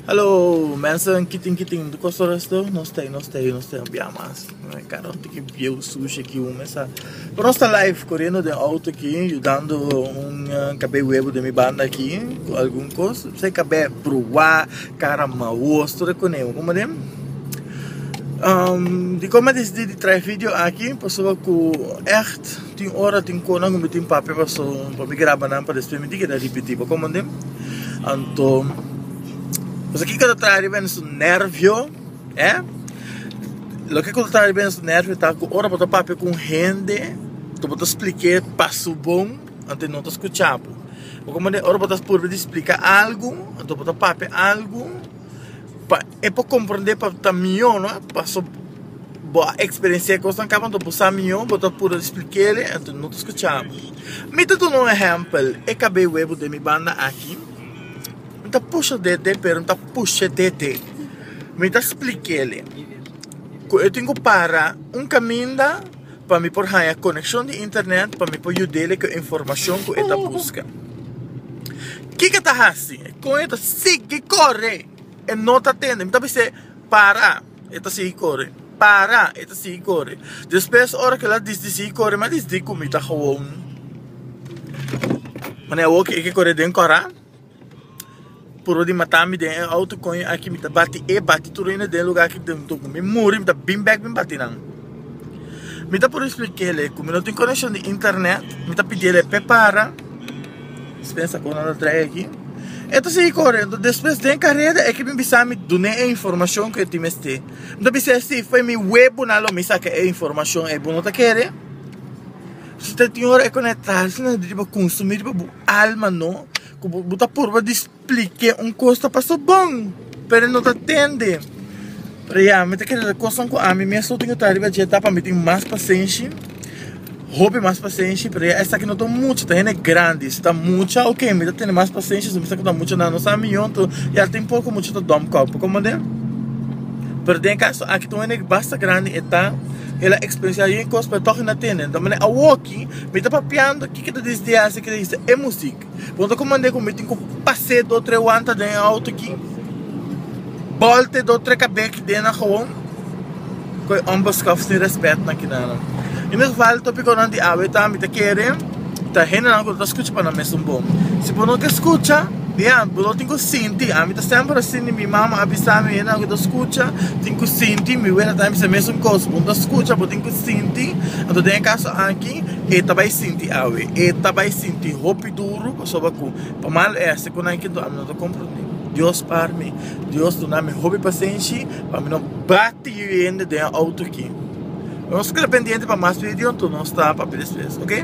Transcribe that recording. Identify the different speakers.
Speaker 1: Hallo mensen kitin kitin di kos oras tu nos ta nos ta nos ta bia mas karo un tiki bieu sushi aki un mesa pero nos ta live koriendo den auto aki yudando un kab'e webo den mi banda aki ku algun kos p'esei kab'e bruwa kara maos tur e koneho kuma dem dikon mi a desidi di traha e video aki pasobra ku ègt Tin ora tin konan ku mi tin papia paso pa mi graba nan pa despues mi tin keda ripiti pa komonden anto pues aki kata traha riba en su nervio eh loke kul traha riba en su nervio ta ku ora bo ta papia ku un hende ku bo ta splik'e paso bon anto e no ta skucha bo bo komonden ora bo ta purba di splika algu anto bo ta papia algu pa. E por comprende pa ta mijo no paso bo a experiencia e cosnan caba anto bo sa mijo bo ta puro explicare anto no ta scucha bo mi ta duna un ehempel e cabe huevo den mi banda aki mi ta pusha dede pero mi ta pushe dede mi ta explicale cu e tin cu para un caminda pa mi por haya conexion di internet pa mi por yudele cu e informacion cu e ta busca kico e ta haci con e ta sigi core E no ta tende. Mi ta bis'é, Para! E ta sigui kore. Para! E ta sigui kore. Despues, ora ku el a dis di sigui kore, mi a dis di ku mi ta gewoon. Manera awor ku e ke kore den kòrá, purba di mata mi den e outo, koño aki mi ta bati e, bati tur hende den lugá ku mi muri, mi ta bin bèk bin bati nan. Mi ta por expliquele cu mi no tin conexion di internet Mi ta pidiel e prepara Dispensa cu no ta trae aki E ta sigui correndo Despues den careda e kibi bisami Dune e informacion cu e tin mester Mi ta bisel si fue mi webonan lo mi saca e informacion e bo no ta kere Tin ora e conectarse na riba Consumi riba bo alma no Cu bo ta purba Plik'é un kos ta pasó bon, pero e no ta tende. Rea, mi ta kere ta kosnan ku ami mes lo tin ku ta riba dje ta pa mi tin mas pasenshi, hopi mas pasenshi, pero ya esaki no ta un mucha, ta hende grandi. Si ta mucha, oke, mi ta tene mas pasenshi, si mi sa ku ta mucha nan nos a mion, to ya tin poko mucha ta dòm kòp. Bo komprendé? Pero den e kaso aki ta un hende basta grandi e ta, el a eksperensiá yu e kos, pero tòg e na tende. Dor manera awoki mi ta papiando kiko ta disdiasi, kiko ta hisa e musik. Punto cu mande cu mi tin cu pase do tre wanta den e auto aki. Bolte do tre cabe aki den na gewoon. Cu e ombos scof sin respet na kinanan. In ieder geval topico nan di awe ta mi ta kere ta hendenan cu no ta scucha pa nan mes un bon. Si bo no ke scucha, bia, bo no tin cu sinti. Ami ta semper asina, mi mama a bisa mi hendenan cu ta scucha tin cu sinti. Mi wera ta bisa mi mes un cos, bo no ta scucha, bo tin cu sinti. Anto den e caso aki. E ta bai sinti awe. E ta bai sinti hopi duru pasobra ku pa mal ese ku nan kendo ami no ta komprondé. Dios par mi. Dios duna mi hopi pasenshi pa mi no bati yu hende den e outo akí. Nos keda pendiente pa mas video nto nos ta papia despues, oke.